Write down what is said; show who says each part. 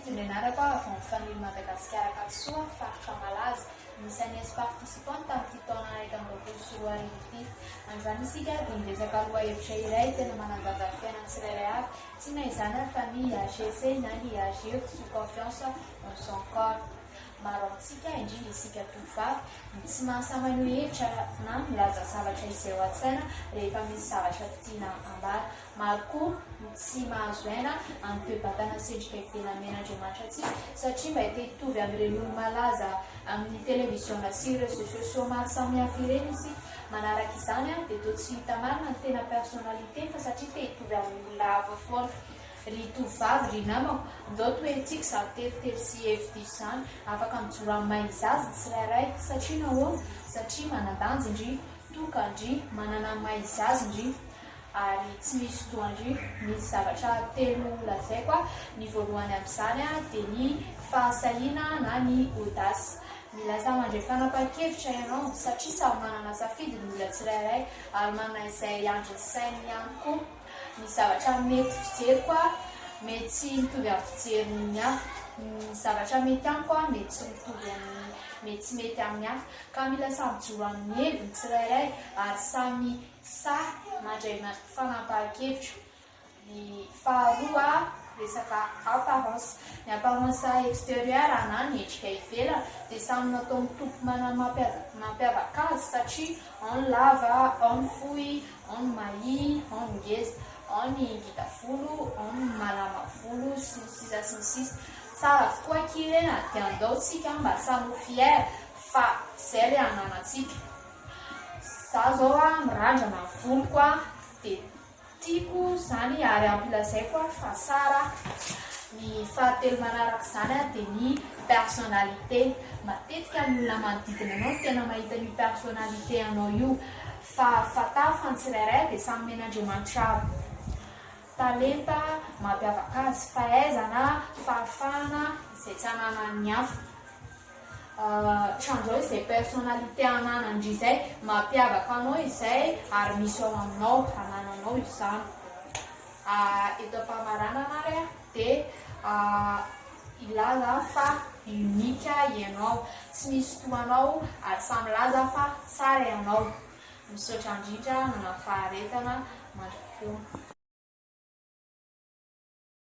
Speaker 1: Tsinjo nianarako aho avy ao amin'ny Famille Madagascar Ankadisoa, faritra Malaza. Anisan'ny ex-participants tamin'ity taona iraika amby roapolo sy roa arivo ity. Androany isika ary dia miresaka lohahevitra iray tena manandanja ny fiainan'ny tsirairay avy, tsy na izany ary fa ny IHC na ny IHG, Fo, Confiance, Onction, Corps. Maro amintsika, indrindra isika tovovavy, no tsy mahasahy-maneho hevitra na milaza zavatra izay ao an-tsaina rehefa misy zavatra tiana ambara. Maro koa no tsy mahazo aina amin'ny toe-batana sy endrika ivelany niain'Andriamanitra antsika, satria mba te hitovy amin'ireny olo-malaza amin'ny televiziona sy réseaux sociaux maro samihafa ireny isika. Manaraka izany, dia toa tsy hita marina ny tena personnalité, fa satria te hitovy amin'ny olona hafa foana. Ry tovovavy, ry namako, ndao toherintsika izany teritery sy hevi-diso izany. Afaka mijoro amin'ny maha izy azy ny tsirairay. Satria nahoana? Satria manan-danja ndry, toka ndry, manana ny maha izy azy ndry. Ary tsy misy doha ndry. Misy zavatra telo ho lazaiko aho. Ny voalohany amin'izany dia ny fahasahiana na ny audace. Milaza mandray fanapahan-kevitra ianao, satria samy manana safidy ny olona tsirairay, ary manana izay andrin'ny sainy ihany koa. ny zavatra mety fijeriko a mety tsy mitovy amin'ny fijerin'ny hafa, ny zavatra mety amiko a mety tsy mitovy amin'ny mety tsy mety amin'ny hafa, ka mila samy mijoro amin'ny heviny ny tsirairay ary samy sahy mandray fanapahan-kevitra. Ny faharoa a resaka apparence, ny apparence exterieur a na ny endrika ivelany dia samy nataon'ny Tompo manana ny mampiavaka azy satria ao ny lava, ao ny fohy, ao ny mahia, ao ny ngeza, ao ny ngita volo, ao ny malama volo sy ny sisa sy ny sisa. Tsara avokoa akia re a! Dia andao tsika mba samy ho fier fa izay re ananantsika. Za zao a mirandrana ny voloko a dia tiako zany ary ampilazaiko a fa tsara a. Ny fahatelo manaraka izany a dia ny personnalité. Matetika ny olona manodidina anao no tena mahita an'io personnalité anao io. Fa fantaro fa ny tsirairay dia samy omen'Andriamanitra talenta mampiavaka azy, fahaizana, fahafahana izay tsy ananan'ny hafa. Trandrao izay personnalité ananan'ndry izay mampiavaka anao izay ary misy ao aminao, anananao izany. Eto am-pamaranana ary a. Dia ilaza fa unique ianao, tsy misy toa anao ary sahy milaza fa tsara ianao. Misaotra indrindra nanafaharetana mandra-poana.